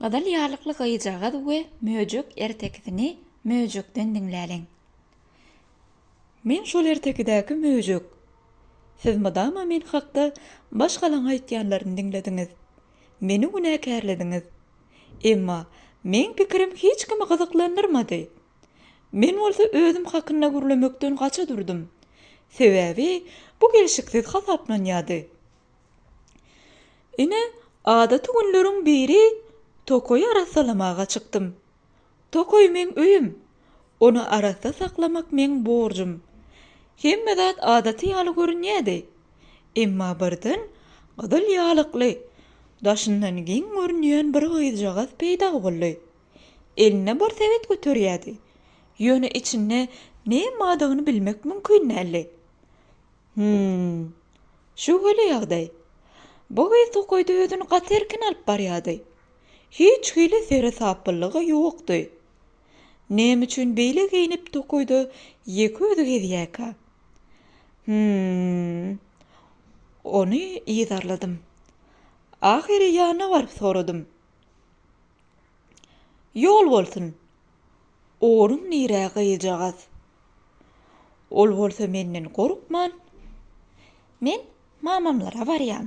Gyzyl ýarlykly gyzjagaz we möjek ertekisini möjekden diňläliň. Men şol ertekidäki möjek. Siz mydama men hakda baş galaň aýtýanlaryny diňlediňiz. Meni günäkärlediňiz. Emma meň pikirim hiç kimi gyzyklandyrmady. Men bolsa özüm hakynda gürlemekden gaça durdum. Sebäbi bu gelşiksiz hasaplanýardy. Ine, adaty günleriň biri tokaýy arassalamaga çykdym. Tokaý meň öýüm, ony arassa saklamak meň borjum. Hemme zat adaty ýaly görünýärdi. Emma birden gyzyl ýalykly, daşyndan geň görünýän bir gyzjagaz peýda boldy. Elinde bir sebet göterýärdi, ýöne içinde näme bardygyny bilmek mümkin däldi. Hümm. Şöwheli ýagdaý. Bu gyz tokaýda özüni gaty erkin alyp barýardy. Hiç hili seresaplylygy ýokdy. Näme üçin beýle geýnip tokaýda ýeke özi gezýärkä? Hümm. Ony yzarladym. Ahyry ýanyna baryp soradym. Ýol bolsun! Oruň nirä gyýjagaz? Ol bolsa menden gorkman, Men mamamlara barýan.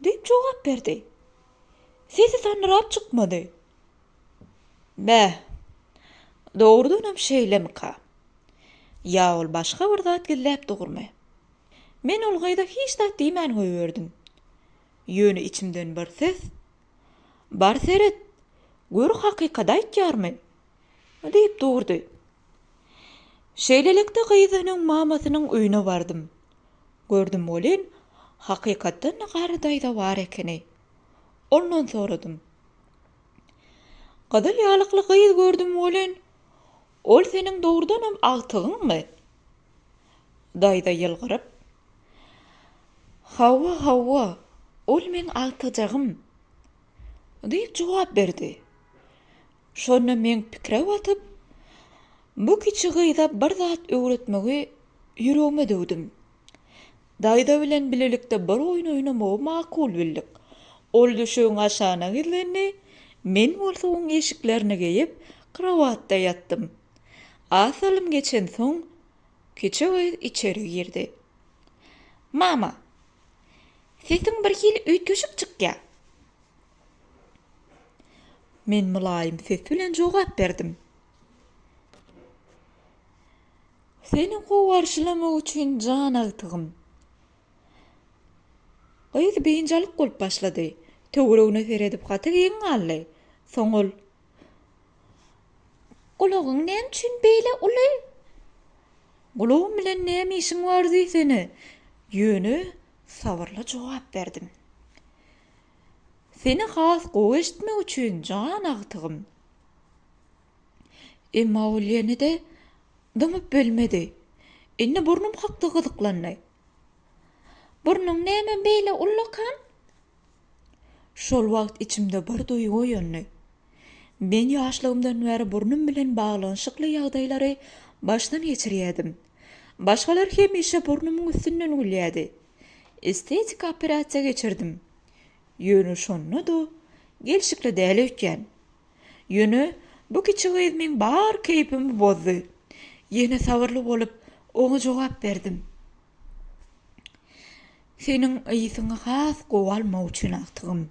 Diýip jogap berdi. Sesi sandyrap çykmady. Bä, dogrudanam şeýlemika? Ýa ol başga bir zat gizläp durmy? Men ol gyza hiç zat diýmän goýberdim. Ýöne içimden bir ses. Bar seret, gör hakykat aýtýarmy? diýip durdy. Şeýlelikde gyzynyň mamasynyň öýüne bardym. Gördüm welin, hakykatdan-da Garry daýza bar ekeni. Ondan soradym. Gyzyl ýalykly gyz gördüm welin, Ol seniň dogrudanam agtygyňmy? Daýza ýylgyryp. Hawa, hawa, ol meň agtyjagym, diýip jogap berdi. Şonda men pikire batyp, bu kiçi gyza bir zat öwretmegi ýüregime düwdüm. Daýza bilen bilelikde bir oýun oýnamagy makul bildik. Ol düşegiň aşagyna gizlendi, men bolsa oň eşiklerini geýip, krowatda ýatdym. Az salym geçensoň, kiçi gyz içeri girdi. Mama, sesiň birhili üýtgeşik çykýar. Men mylaýym ses bilen jogap berdim. Seni gowarşylamak üçin jan agtygym. Gyz biynjalyk bolup başlady. Töweregine seredip gaty geň galdy. Soň ol. Gulagyň näme üçin beýle uly? Gulagym bilen näme işiň bar diýsene? Ýöne sabyrly jogap berdim. Seni has gowy eşitmek üçin jan agtygym. Emma ol ýene-de dymyp bilmedi. Indi burnum hakda gyzyklandy. Burnuň näme beýle ullakan? Şol wagt içimde bir duýgy oýandy. Men ýaşlygymdan bäri burnum bilen baglanyşykly ýagdaýlary başdan geçirýärdim. Başgalar hemişe burnumyň üstünden gülýärdi. Estetik operasiýa geçirdim. Ýöne şonda-da gelşikli däl öýtýän. Ýöne bu kiçi gyz meň bar keýpimi bozdy. Ýene sabyrly bolup, oňa jogap berdim. Seniň ysyňy has gowy almak üçin agtygym.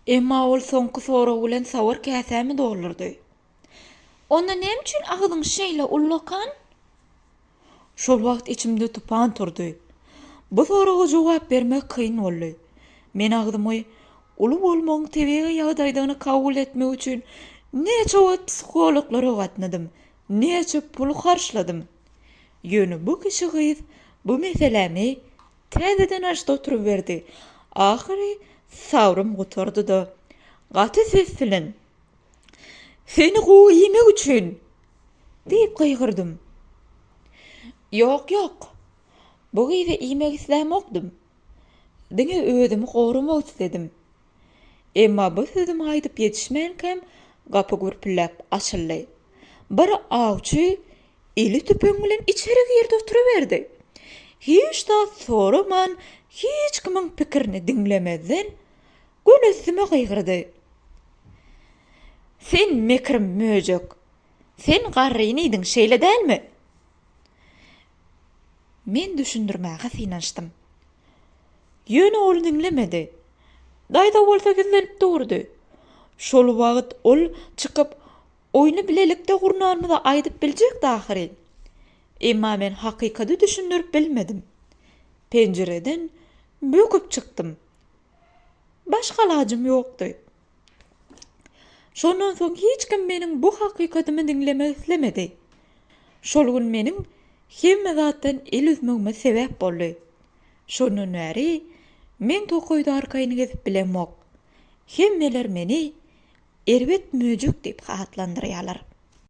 Emma ol soňky sorag bilen sawar käsämi doldurdy. Onda näme üçin agzyň şeýle ullakan? Şol wagt içimde tupan turdy. Bu soraga jogap bermek kyn boldy. Men agzymy Uly bolmagyň tebigy ýagdaýdygyny kabul etmek üçin näçe wagt psihologlara gatnadym, näçe pul harçladym. Ýöne bu kişi gyz bu meselämi täzeden açdy oturyberdi. Ahyry sabrym gutardy-da, gaty ses bilen. Seni gowy iýmek üçin! diýip gygyrdym. Ýok, ýok. Bu gyzy iýmek islämokdym. Diňe özümi goramak isledim. Emma bu sözümi aýdyp ýetişmänkäm gapy gürpülläp açyldy. Bir awçy eli tüpeň bilen içeri girdi oturyberdi. Hiç zat soraman, hiç kimiň pikirini diňlemezden Gün üstüme gygyrdy. Sen mekir möjek. Sen garryny iýdiň, şeýle dälmi? Men düşündirmäge synanyşdym. Ýöne ol diňlemedi. Daýza bolsa gizlenip durdy. Şol wagt ol çykyp, oýny bilelikde gurnanymyzy aýdyp biljekdi ahyry. Emma men hakykaty düşündirip bilmedim. Penjireden böküp çykdym. Başga alajym ýokdy. Şondan soň hiç kim meniň bu hakykatymy diňlemek islemedi. Şol gün meniň hemme zatdan el üzmegime sebäp boldy. Şondan bäri men tokaýda arkaýyn gezip bilemok. Hemmeler meni erbet möjek diýip atlandyrýarlar.